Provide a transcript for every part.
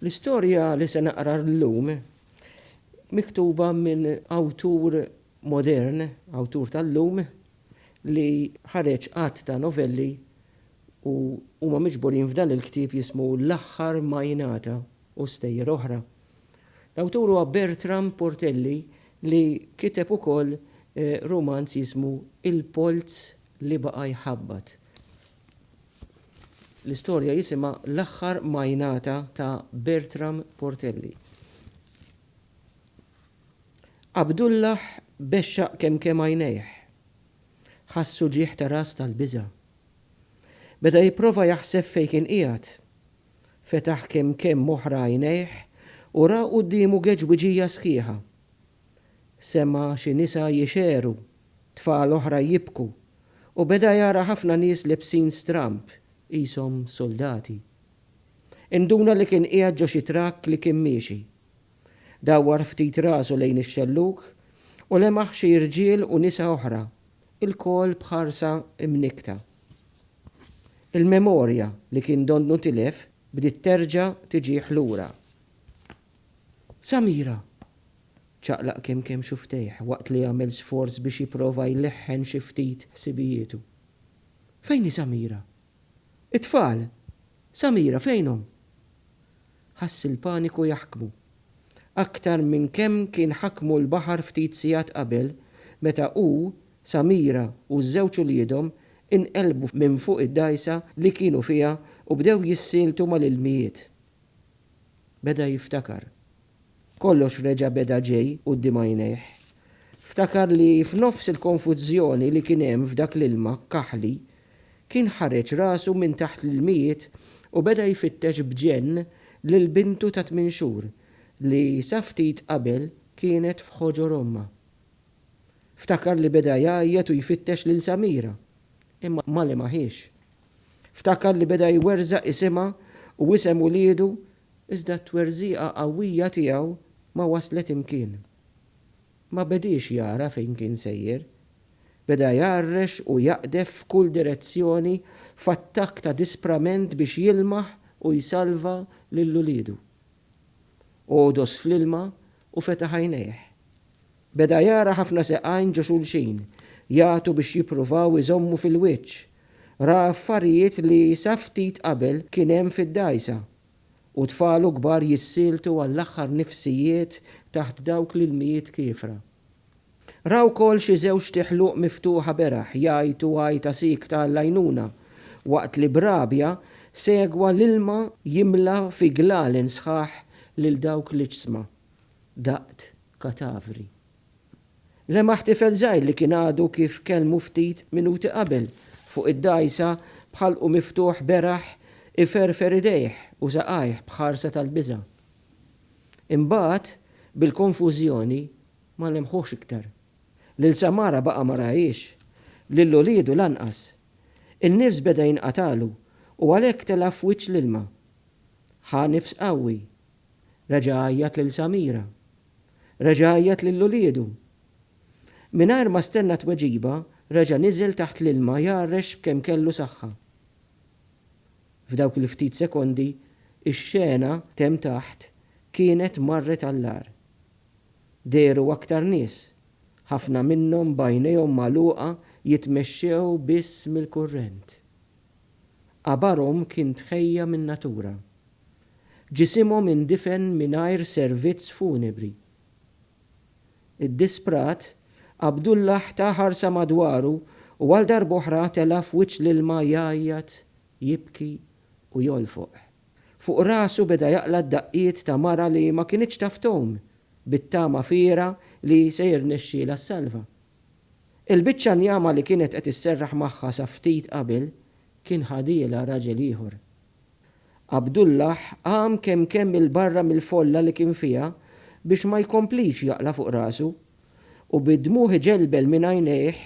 L-istorja li se naqra llum miktuba minn awtur modern, awtur tal-lum, li ħareġ għadd ta' novelli u huma miġburin f'dan il-ktieb jismu L-Aħħar Ma Jingħata u Stejjer Oħra. L-awtur huwa Bertram Portelli li kiteb ukoll rumanz jismu Il-Polz li Baqa' Jħabbat. L-istorja jisimha L-Aħħar Majnata ta' Bertram Portelli. Abdullah bexxaq kemkemm għajnejh. Ħass uġigħ ta' ras tal-biża'. Beda jipprova jaħseb fejn kien qiegħed. Fetaħ kemkemm oħra għajnejh u ra quddiemu geġwiġija sħiħa. Sema' xi nisa jixegħru, tfal oħra jibku, u beda jara ħafna nies lebsin stramb, qishom suldati. Induna li kien qiegħed ġo xi trakk li kien miexi. Dawwar ftit rasu lejn ix-xellug u lemaħ xi rġiel u nisa oħra, ilkoll b'ħarsa mnikkta. Il-memorja li kien donnu tilef bdiet terġa' tiġih lura. Samira! ċaqlaq kemm kemm xufftejh waqt li għamel sforz biex jipprova jleħħen xi ftit ħsibijietu. Fejn hi Samira? It-tfal! Samira, fejnhom? Ħass il-paniku jaħkmu. Aktar minn kemm kien ħakmu l-baħar ftit sigħat qabel meta hu, Samira u ż-żewġ uliedhom inqelbu minn fuq id-dgħajsa li kienu fiha u bdew jissieltu mal-ilmijiet. Beda jiftakar. Kollox reġa' beda ġej quddiem għajnejh. Ftakar li f'nofs il-konfużjoni li kien hemm f'dak l-ilma kaħli, kien ħareġ rasu minn taħt l-ilmijiet u beda jfittex b'ġenn lil bintu ta' tmien xhur li sa ftit qabel kienet f'ħoġor ommha. Ftakar li beda jgħajjat u jfittex lil Samira, imma ma lemaħiex. Ftakar li beda jwerżaq isimha u isem uliedu iżda t-twerżiqa qawwija tiegħu ma waslet imkien. Ma bediex jara fejn kien sejjer. Beda jgħarrex u jaqdef f'kull direzzjoni f'attakk ta' disprament biex jilmaħ u jsalva lil uliedu. Għodos fl-ilma u fetaħ għajnejh. Beda jara ħafna seqajn ġo xulxin, jagħtu biex jippruvaw iżommu fil-wiċċ. Ra affarijiet li sa ftit qabel kien hemm fid-dgħajsa. U tfal u kbar jissieltu għall-aħħar nifsijiet taħt dawk l-ilmijiet kiefra. Ra wkoll xi żewġt iħluq miftuħa beraħ jgħajtu għajta siekta għall-għajnuna, waqt li b'rabja segwa l-ilma jimla fi glalen sħaħ lil dawk l-iġsma. Daqt katavri. Lemaħ tifel żgħir li kien għadu kif kellmu ftit minuti qabel fuq id-dgħajsa b'ħalqu miftuħ beraħ iferfer idejh u saqajh b'ħarsa tal-biża'. Imbagħad, bil-konfużjoni, ma lemħuhx iktar. Lil Samara baqa' ma rahiex, lil uliedu lanqas. In-nifs beda jinqatagħlu u għalhekk tela' f'wiċċ l-ilma. Ħa nifs qawwi Reġa' għajjat lil Samira. Reġa' għajjat lil uliedu. Mingħajr ma stenna tweġiba, reġa' niżel taħt l-ilma jgħarrex b'kemm kellu saħħa. F'dawk il-ftit sekondi, ix-xena t'hemm taħt kienet marret għall-agħar. Dehru aktar nies, ħafna minnhom b'għajnejhom magħluqa jitmexxew biss mill-kurrent. Qabarhom kien tħejja min-natura. Ġisimhom indifen mingħajr servizz funebri. Iddisprat, Abdullah ta ħarsa madwaru u għal darb'oħra tela' f'wiċċ l-ilma jgħajjat, jibki u jolfoq. Fuq rasu beda jaqla' d-daqqiet ta' mara li ma kinitx taf tgħum, bit-tama fiergħa li se jirnexxielha ssalva. Il-biċċa njama li kienet qed isserraħ magħha sa ftit qabel kien ħadielha raġel ieħor. Abdullah qam kemm kemm 'il barra mill-folla li kien fiha biex ma jkomplix jaqla' fuq rasu, u bid-dmugħ iġelbel minn għajnejh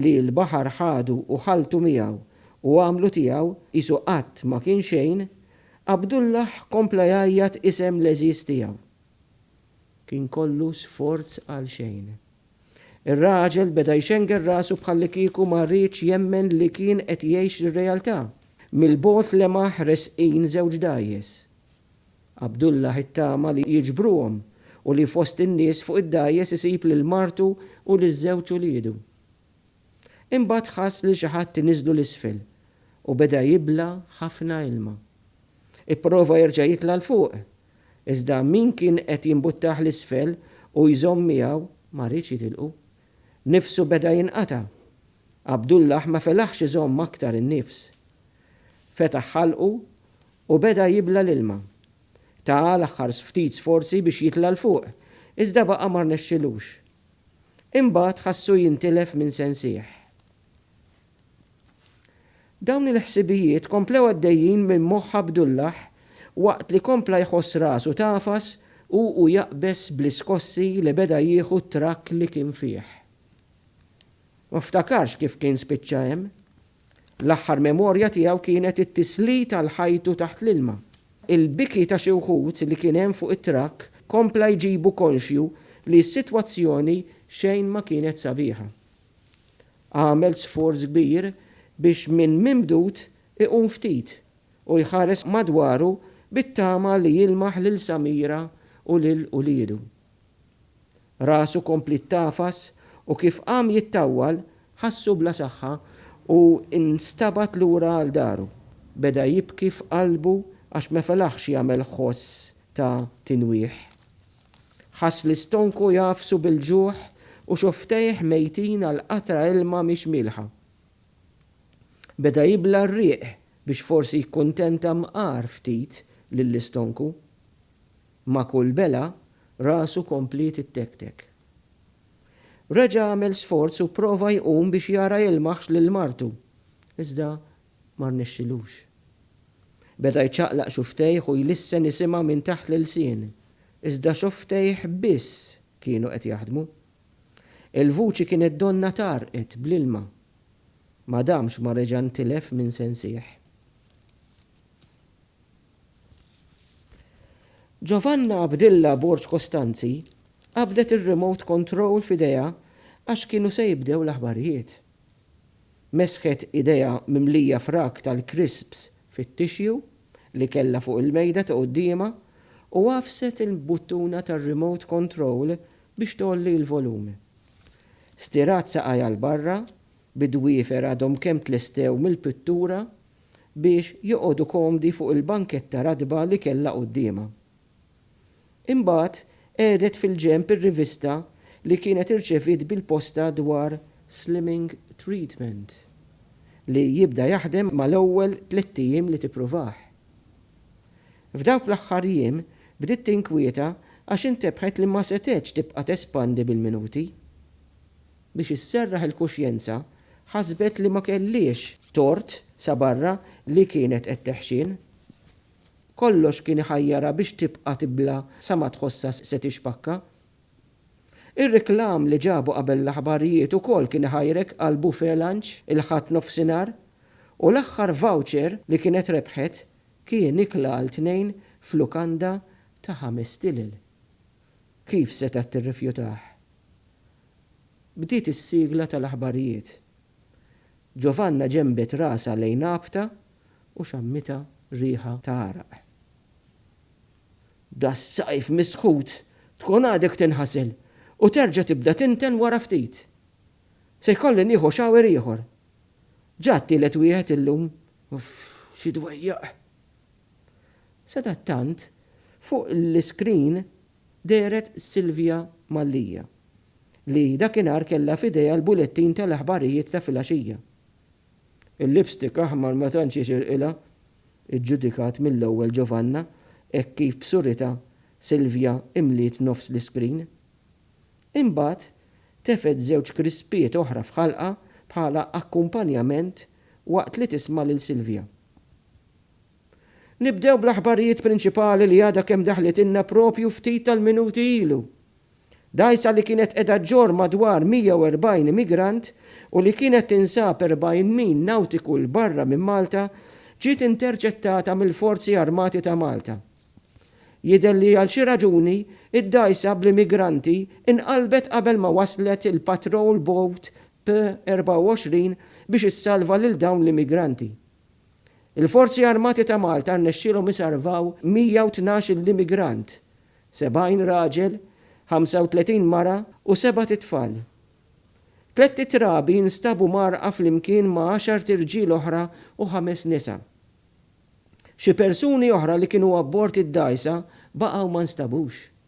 li l-baħar ħadu u ħalltu miegħu u għamlu tiegħu qisu qatt ma kien xejn, Abdullah kompla jgħajjat isem l-għeżież tiegħu. Kien kollu sforz għalxejn. Ir-raġel beda jxengel rasu bħallikieku ma riedx jemmen li kien qed jgħix ir-realtà. Mill-bogħod lemaħ resqin żewġ dgħajjes. Abdullah ittama li jiġbruhom u li fost in-nies fuq id-dgħajjes isib lil martu u liż-żewġ uliedu. Imbagħad ħass lil xi ħadd iniżżlu 'l isfel u beda jibla' ħafna ilma. Ipprova jerġa' jitla' 'l fuq, iżda min kien qed jimbuttah 'l isfel u jżomm miegħu ma riedx jitilqu. Nifsu beda jinqata'. Abdullah ma felaħx iżomm aktar in-nifs. Fetaħ ħalqu u beda jibla' l-ilma. Ta l-aħħar ftit sforzi biex jitla' 'l fuq, iżda baqa' ma rnexxilux. Imbagħad ħassu jintilef minn sensih. Dawn il-ħsibijiet komplew għaddejjin minn moħħ Abdullah waqt li kompla jħoss rasu tagħfas u u jaqbeż bl-iskossi li beda jieħu t-trakk li kien fih. Ma ftakarx kif kien spiċċa hemm. L-aħħar memorja tiegħu kienet it-tislit għal ħajtu taħt l-ilma. Il-biki ta' xi wħud li kien hemm fuq it-trakk kompla jġibu konxju li s-sitwazzjoni xejn ma kienet sabiħa. Għamel sforz kbir biex minn mimdud iqum ftit u jħares madwaru bit-tama li jilmaħ lil Samira u lil uliedu. Rasu kompliet tagħfas u kif qam jittawwal ħassu bla saħħa u nstabad lura għal daru. Beda jibki f'qalbu għax ma felaħx jagħmel ħoss ta' tinwieħ. Ħass li stonku jagħfsu bil-ġuħ u xufftejh mejtin għal qatra ilma mhix mielħa. Beda jibla' r-riq biex forsi jikkuntenta mqar ftit lill-istonku. Ma' kull belgħa, rasu kompliet ittektek. Reġa' għamel sforz u pprova jqum biex jara jilmaħx lil martu, iżda Ma rnexxilux. Beda jċaqlaq xufftejh u jlissen isimha minn taħt l-ilsien, iżda xufftejh biss kienu qed jaħdmu. Il-vuċi kienet donnha tgħarrqet bl-ilma. Ma damx ma reġa' ntilef minn sensih. Giovanna Abdilla Borg Costanzi qabdet ir-remote control f'idejha għax kienu se jibdew l-aħbarijiet. Mesħet idejha mimlija frak tal-krisps fit-tixju li kellha fuq il-mejda ta' quddiemha u għafset il-buttuna tar-remote control biex tgħolli l-volum. Stirat saqajha 'l barra, bid-dwiefer għadhom kemm tlestew mill-pittura, biex joqogħdu komdi fuq il-banketta ratba li kellha quddiemha. Imbagħad qegħdet fil-ġenb ir-rivista li kienet irċeviet bil-posta dwar Slimming Treatment, li jibda jaħdem mal-ewwel tlett ijiem li tippruvah. F'dawk l-aħħar jiem bdiet tinkwieta għax intebħet li ma setgħetx tibqa' tespandi bil-minuti. Biex isserraħ il-kuxjenza, ħasbet li ma kellhiex tort sa barra li kienet qed teħxien. kollox kien iħajjarha biex tibqa' tibla' sa ma tħossha se tixpakka. Ir-reklam li ġabu qabel l-aħbarijiet ukoll kien iħajrek għal buffet lunch il-Ħadd nofsinhar u l-aħħar voucher li kienet rebħet kien ikla għal tnejn f'lukanda ta' ħames stilel. Kif setgħet tirrifjutah? Bdiet is-sigla tal-aħbarijiet. Giovanna ġenbet rasha lejn Abta u xammitha riħa ta' għaraq. Das-sajf misħut tkun għadek tinħasel u terġa' tibda tinten wara ftit. Se jkolli nieħu shower ieħor. Ġa t-tielet wieħed illum. Uff, xi dwejjaq! Sadattant, fuq l-iskrin dehret Silvia Mallia, li dakinhar kellha f'idejha l-bulettin tal-aħbarijiet ta' filgħaxija. Il-lipstick aħmar ma tantx jixirqilha, iġġudikat mill-ewwel Giovanna hekk kif b'surità Silvia imliet nofs l-iskrin. Imbagħad tefgħet żewġ krispiet oħra f'ħalqha bħala akkumpanjament waqt li tisma' lil Silvia. Nibdew bl-aħbarijiet prinċipali li għadha kemm daħlitilna proprju ftit tal-minuti ilu. Dgħajsa li kienet qiegħda ġġorr madwar 140 immigrant u li kienet tinsab 40 mil nawtiku 'l barra minn Malta ġiet interċettata mill-Forzi Armati ta' Malta. Jidher li għal xi raġuni d-dgħajsa bl-immigranti inqalbet qabel ma waslet il-patrol boat P24 biex issalva lil dawn l-immigranti. Il-Forzi Armati ta' Malta rnexxielhom isalvaw 112-il immigrant, 70 raġel, 35 mara u sebat itfal. Tlett it-trabi nstabu mgħarrqa flimkien ma' għaxart irġiel oħra u ħames nisa. Xi persuni oħra li kienu abbord id-dgħajsa baqgħu ma nstabux.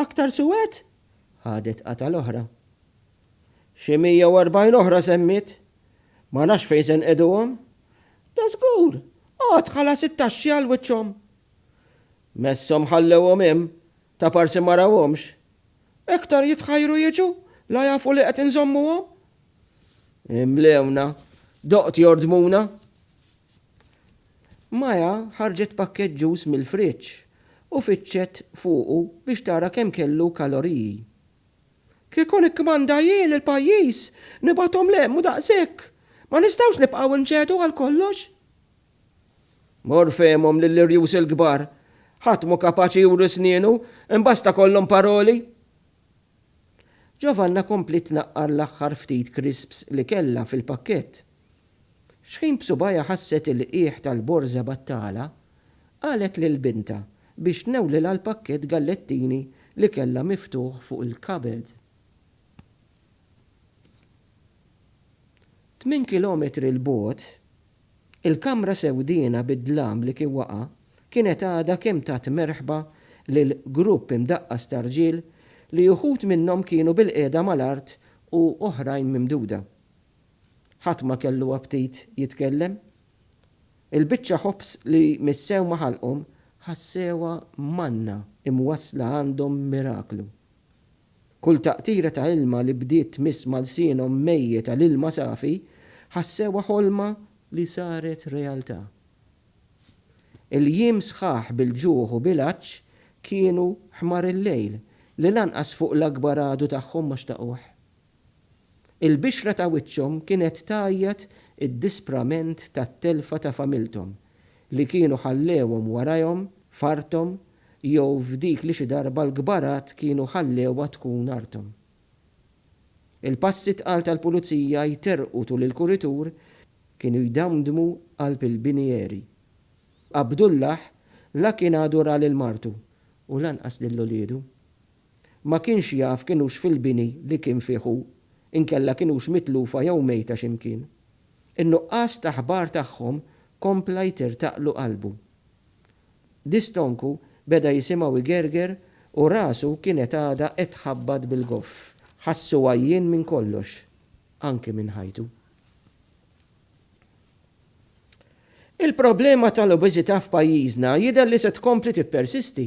Aktar suwed? Ħadet qatgħa l-oħra. Xi mija u erbgħin oħra semmiet. Ma nafx fejn se nqiduhom. Dażgur! Għad ħalas it-taxxi għal wiċċhom. Messhom ħallewhom hemm, ta' parsi ma rawhomx. Iktar jitħajru jiġu, la jafu li qed inżommuhom. Imlewna, doqt jordmuna. Maya ħarġet pakkett ġus mill-friġġ u fittxet fuqu biex tara kemm kellu kaloriji. Kieku nikkmanda jien lill-pajjiż, nibgħathom 'l hemm u daqshekk! Ma nistgħux nibqgħu nċedu għal kollox! Mor fehmhom lill-irjus il-kbar! Ħadd mhu kapaċi juri snienu, imbasta kollhom paroli! Giovanna kompliet tnaqqar l-aħħar ftit crisps li kellha fil-pakkett. F'xħin b'subgħajha ħasset il-qiegħ tal-borża battala, qalet lil bintha biex tnewwlilha l-pakkett gallettini li kellha miftuħ fuq il-kabed. Tmien kilometri 'l bogħod, Il-Kamra Sewdiena bid-dlam li kien waqa' kienet għadha kemm tat merħba lil grupp imdaqqas ta' rġiel li uħud minnhom kienu bilqiegħda mal-art u oħrajn mimduda. Ħadd ma kellu aptit jitkellem. Il-biċċa ħobż li missew ma' ħalqhom ħassewha manna imwassla għandhom miraklu. Kull taqtira ta' ilma li bdiet tmiss ma' lsienhom mejjet għal ilma safi, ħassewha ħolma li saret realtà. Il-jiem sħaħ bil-ġuħ u bil-għatx kienu ħmar il-lejl li lanqas fuq l-akbar għadu tagħhom ma xtaquh. Il-bixra ta' wiċċhom kienet tgħajjat id-disprament tat-telfa ta' familthom li kienu ħallewhom warajhom f'arthom jew f'dik li xi darba l-kbarat kienu ħallewha tkun arthom. Il-passi tqal tal-pulizija jterrqu tul il-kuritur kienu jdamdmu qalb il-binieri. Abdullah la kien għadu ra lil martu u lanqas lil uliedu. Ma kienx jaf kien hux fil-bini li kien fih hu, inkella kien hux mitlufa jew mejta xi mkien. In-nuqqas ta' ħbar tagħhom kompla jtirtaqlu qalbu. Distonku beda jisimgħu jgerger u rasu kienet għadha qed tħabbat bil-goff. Ħassu għajjien minn kollox, anki minn ħajtu. Il-problema tal-obeżità f'pajjiżna jidher li se tkompli tippersisti.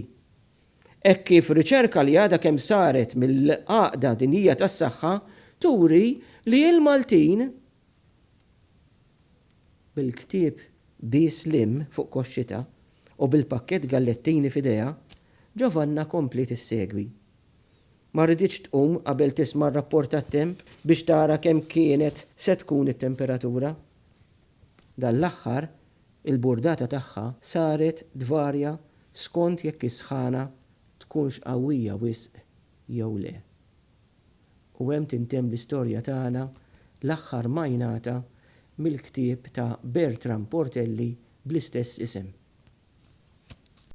Hekk kif riċerka li għadha kemm saret mill-Għaqda Dinjija tas-Saħħa turi li l-Maltin, bil-ktieb Bies Limm fuq koxxitha u bil-pakkett gallettini f'idejha, Giovanna kompliet issegwi. Ma riditx tqum qabel tisma' r-rapport tat-temp biex tara kemm kienet se tkun it-temperatura. Dan l-aħħar Il-burdata tagħha saret tvarja skont jekk is-sħana tkunx qawwija wisq jew le. U hemm tintemm l-istorja tagħna l-aħħar majnata mill-ktieb ta' Bertram Portelli bl-istess isem.